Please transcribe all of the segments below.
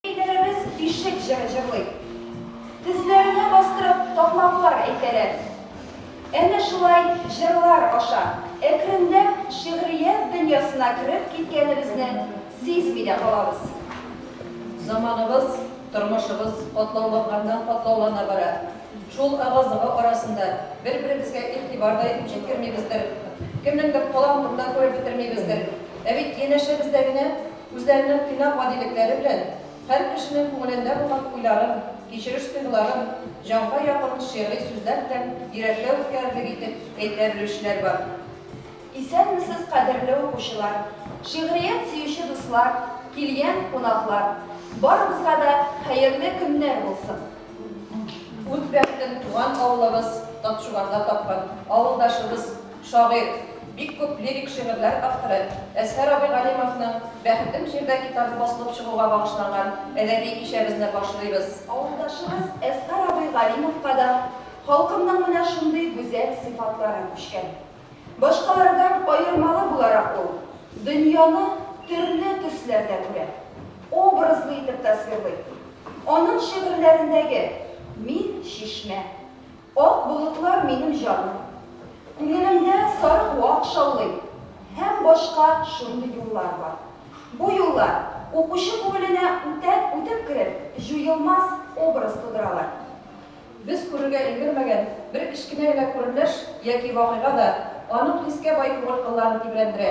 Әйдәләребез Ишек җыры җырлый. Тезләренә бастырып такмаклар әйтәләр. Әнә шулай җырлар аша әкренләп шигърият дөньясына кереп киткәнебезне сизми дә калабыз. Заманыбыз, тормышыбыз катлауланганнан-катлаулана бара. Шул ыгы-зыгы арасында бер-беребезгә игътибар да итеп җиткермибездер, кемнеңдер калам турында күреп бетермибездер. Ә бит янәшәбездә генә. Үзләренең тыйнак гадилекләре белән һәр кешенең күңелендә булган уйларын, кичереш тойгыларын җанга якын шигъри сүзләр белән йөрәккә үткәрерлек итеп әйтә белүчеләр бар. Исәнмесез, кадерле укучылар, шигърият сөюче дуслар, килгән кунаклар! Барыбызга да хәерле көннәр булсын! Үз бәхетен туган авылыбыз Тапчуганда тапкан авылдашыбыз Шагыйрь, бик күп лирик шигырьләр авторы Әзһәр абый Галимовның Бәхетем җирдә китабы басылып чыгуга багышланган әдәби кичәбезне башлыйбыз. Авылдашыбыз Әзһәр абый Галимовка да халкымның менә шундый гүзәл сыйфатлары күчкән. Башкалардан аермалы буларак ул дөньяны төрле төсләрдә күрә, образлы итеп тасвирлый. Аның шигырьләрендәге Мин, чишмә. Ак болытлар минем җаным. Күңелемдә сарык вак шаулый. Һәм башка шундый юллар бар. Бу юллар, укучы күңеленә үтәп үтеп кереп, җуелмас образ тудыралар. Без күрергә өлгермәгән бер кечкенә генә күренеш яки вакыйга да аның хискә бай күңел кылларын тибрәндерә.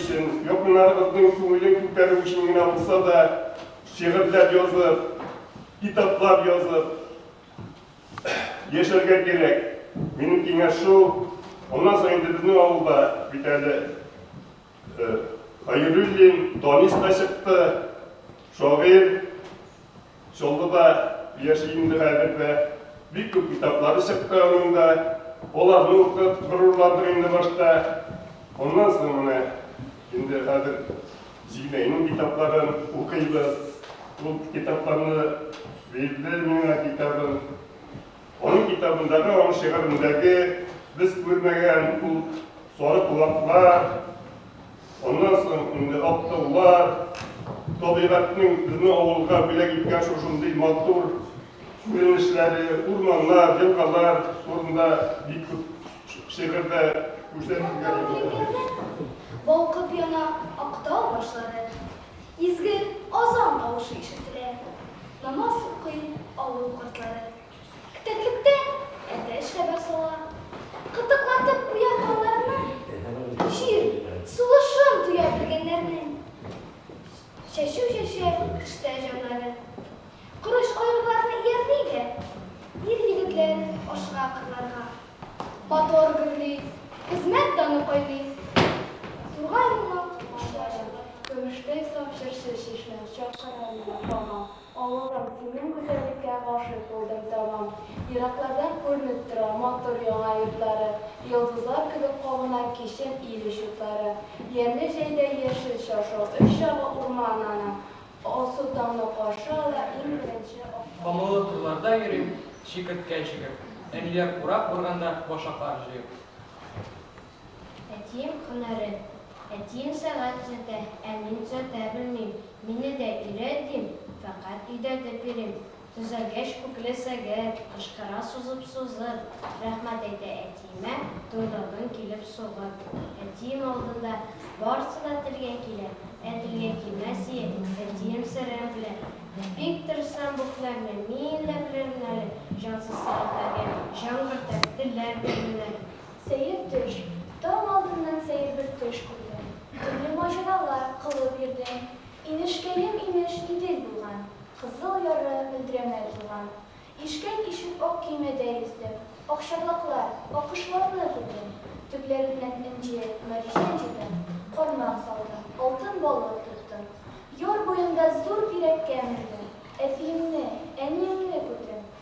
өчен, якыннарыгызның күңелен күтәрү өчен генә булса да, шигырьләр язып, китаплар язып яшәргә кирәк. Минем киңәш шул. Аннан соң инде безнең авылда бит әле Хәйруллин Данис та чыкты, шагыйрь. Чаллыда яши инде хәзер дә. Бик күп китаплары чыкты аның да. Аларны укып горурландык инде башта. Аннан соң менә инде хәзер Зиләйнең китапларын укыйбыз. Ул китапларны бирде миңа китабын. Аның китабындагы аның шигырендәге без күрмәгән ул сары кулаклар, аннан соң инде ак таулар, табигатьнең безнең авылга бүләк иткән шушындый матур күренешләре, урманнар, елгалар турында бик күп шигырьдә күрсәтелгән. Балкып яна Актау башлары, Изге азан тавышы ишетелә. Намаз укый авыл картлары. Терлектә әтәч хәбәр сала. Кытыклатып куя каннарны. Җир сулышын тоя белгәннәрнең. Чәчү чәчә эштә җаннары. Корыч-кайгыларны иярли дә. Ир-егетләр ашыга кырларга. Мотор гөрли, хезмәт даны кайный. Тургай була башлады, көмештәй саф җырчы чишмә. Чакырам миңа һаман авылым, синең гүзәллеккә гашыйк булдым тәмам. Ераклардан күренеп тора матур яңа йортлары, йолдызлар кебек кабына кичен ил очлары. Ямьле җәйдә яшел чаршау, өч ягы урман аның, Алсу таңны каршы ала, иң беренче ак таңны. Камыллы турларда йөрим, чикерткә чигеп. Әниләр курак урганда, башаклар җыеп. Әтием һөнәрен, әтием сәгать төзәтә, ә мин төзәтә белмим. Мине дә өйрәт, дим, фәкать өйдә дә пирим. Төзәлгәч күкле сәгет, Кычкыра сузып-сузып, Рәхмәт әйтә әтиемә, Туйдырдың килеп сугып. Әтием алдында Барсы да телгә килә, Ә телгә килмәс ие, Әтием серен белә. Бик тырышсам бу һөнәрне, Мин дә белермен әле, Җансыз сәгатьләргә Җан кертәм, телләр белермен әле. Сәер төш, Таң алдыннан сәер бер төш күрдем. Төрле маҗаралар кылып йөрдем. Инешкәем, имеш, Идел булган. Кызыл яры мөлдерәмә тулган. Ишкәк ишеп ак көймәдә йөздем. Акчарлаклар, аккошларны күрдем. Төпләреннән энҗе, мәрҗән җыйдым. Кармак салдым, алтын балык тоттым. Яр буенда зур бирәккә мендем. Әтиемне, әниемне күрдем.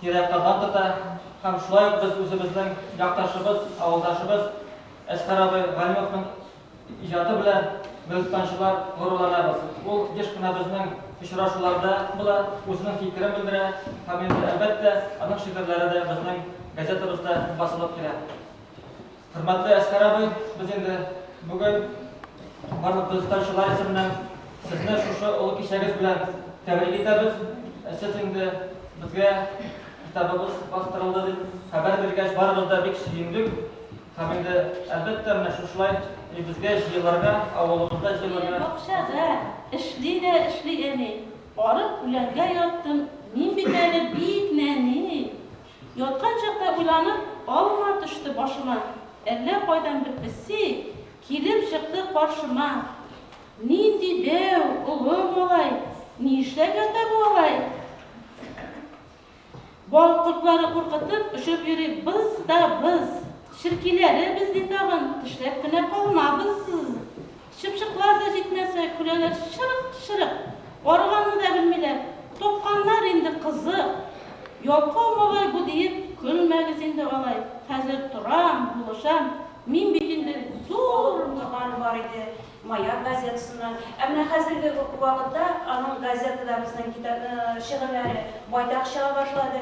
тирә-тама тота һәм шулай ук без үзебезнең якташыбыз, авылдашыбыз Әсхәр абый Галимовның иҗаты белән мөлкәнчылар горурланабыз. Ул еш кына безнең очрашуларда була, үзенең фикерен белдерә һәм инде, әлбәттә, аның шигырьләре дә безнең газетабызда басылып килә. Хөрмәтле Әскәр абый, без инде бүген барлык дагыстанчылар исеменнән сезне шушы олы кичәгез белән тәбрик итәбез. Сез инде безгә китабыбыз бастырылды дип хәбәр биргәч, барыбыз да бик сөендек. Һәм инде, әлбәттә, менә шушылай безгә җыелырга, авылыбызда җыелырга. Бакчада эшли дә эшли әни. Арып үләнгә яттым, мин бит әле бик нәни. Яткан чакта уйланып, алма төште башыма, Әллә кайдан бер песи килеп чыкты каршыма. Нинди дәү, олы малай, ни эшләп ята бу алай? Бал кортлары куркытып, очып йөри быз да быз. Черкиләре без ди тагын, тешләп кенә калмабыз. Чыпчыклар да җитмәсә, көләләр чырык-чырык. Арыганны да белмиләр. Тапканнар инде кызык. Ялкау малай бу, диеп, көлмәгез инде алай. Хәзер торам, булышам. Мин бит инде зур. Торганы бар иде, Маяк газетасыннан. Ә менә хәзерге вакытта аның газетада безнең китап, шигырьләре байтак чыга башлады.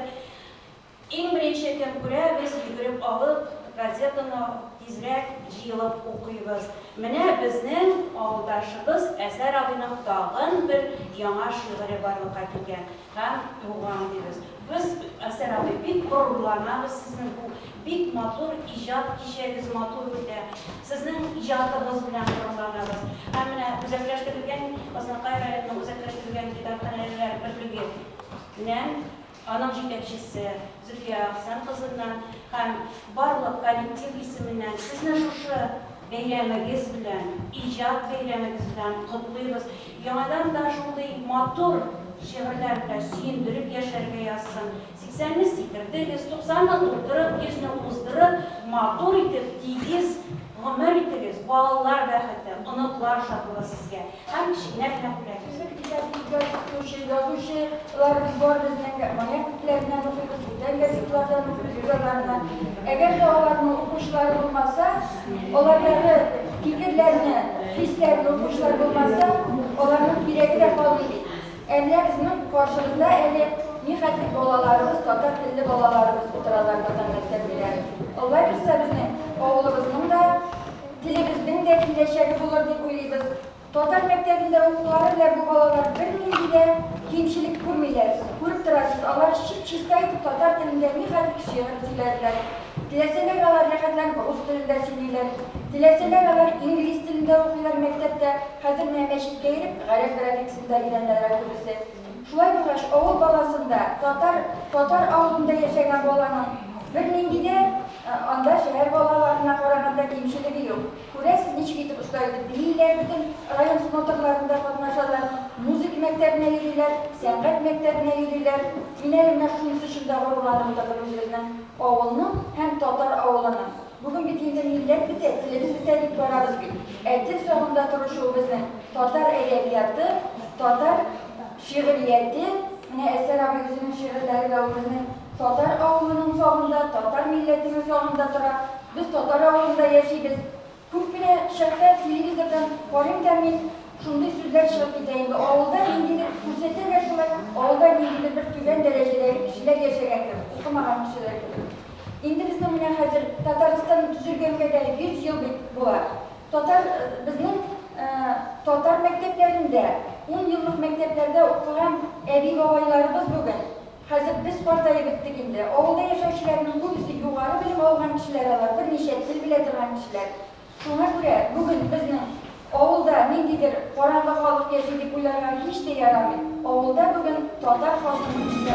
Иң беренче кем күрә, без йөгереп алып, газетаны тизрәк җыелып укыйбыз. Менә безнең авылдашыбыз Әсәр абыйның тагын бер яңа шигыре барлыкка килгән һәм туган, дибез. Без, Әсәр абый, бик горурланабыз сезнең бу бик матур иҗат кичәгез матур үтә. Сезнең иҗатыгыз белән горурланабыз. Һәм менә үзәкләштерелгән Азнакай районының үзәкләштерелгән китапханәлеләр берлеге нән Аның җитәкчесе Зөлфия Әхсән кызыннан һәм барлык коллектив исеменнән сезне шушы бәйрәмегез белән, иҗат бәйрәмегез белән котлыйбыз. Яңадан да шундый матур шигырьләр белән сөендереп яшәргә язсын. Сиксәнне сикердегез, туксанны тутырып, йөзне уздырып, матур итеп, тигез гомер итегез, балалар бәхете, оныклар шатлыгы сезгә! Һәм кечкенә генә күләгә. Безнең иҗат иҗат итүче язучы лар без бар безнең Маяк күкләреннән укыйбыз, бүтән газетлардан укыйбыз җырларны. Әгәр дә аларның укучылары булмаса, алардагы фикерләрне, хисләрне укучылар булмаса, аларның кирәге дә калмый бит. Әллә безнең каршыбызда әле нихәтле балаларыбыз, татар телле балаларыбыз утыралар татар мәктәплеләре. Алла бирса безнең авылыбызның да. Телебезнең дә киләчәге булыр дип уйлыйбыз. Татар мәктәбендә укулары белән бу балалар бернинди дә кимчелек күрмиләр. Күреп торасыз, алар чип-чиста итеп татар телендә нихәтле шигырь сөйләделәр. Теләсәләр алар рәхәтләнеп рус телендә сөйлиләр. Теләсәләр алар инглиз телендә укыйлар мәктәптә. Хәзер менә мәчеткә йөреп гарәп графикасын да өйрәнәләр күбесе. Шулай булгач, авыл баласында, татар, татар авылында яшәгән баланың бернинди дә анда шәһәр балаларына караганда кимчелеге юк. Күрәсез, ничек итеп оста итеп бииләр, бөтен район смотрларында катнашалар, музыка мәктәбенә йөриләр, сәнгать мәктәбенә йөриләр. Мин әле менә шунысы өчен дә горурланып утырдым үзебезнең авылның һәм татар авылының. Бүген бит инде милләт бетә, телебез бетә дип барабыз бит. Ә тел сагында торышу безнең татар әдәбияты, татар шигърияте, менә Әсәр абый үзенең шигырьләре дә ул безнең татар авылының сагында, татар милләтенең сагында тора. Без татар авылында яшибез. Күп кенә чакта телевизордан карыйм да мин, шундый сүзләр чыгып китә инде, авылда ниндидер, күрсәтәләр шулай, авылда ниндидер бер түбән дәрәҗәдәге кешеләр яшәгән кебек, укымаган кешеләр кебек. Инде безнең менә хәзер Татарстан төзелгәнгә дә 100 ел бит була. Татар безнең татар мәктәпләрендә, ун еллык мәктәпләрдә укыган әби-бабайларыбыз бүген, хәзер без картаеп беттек инде, авылда яшәүчеләрнең күбесе югары белем алган кешеләр алар, берничә тел белә торган кешеләр. Шуңа күрә бүген безнең авылда ниндидер караңгы халык яши дип уйларга һич тә ярамый. Авылда бүген татар халкы нигездә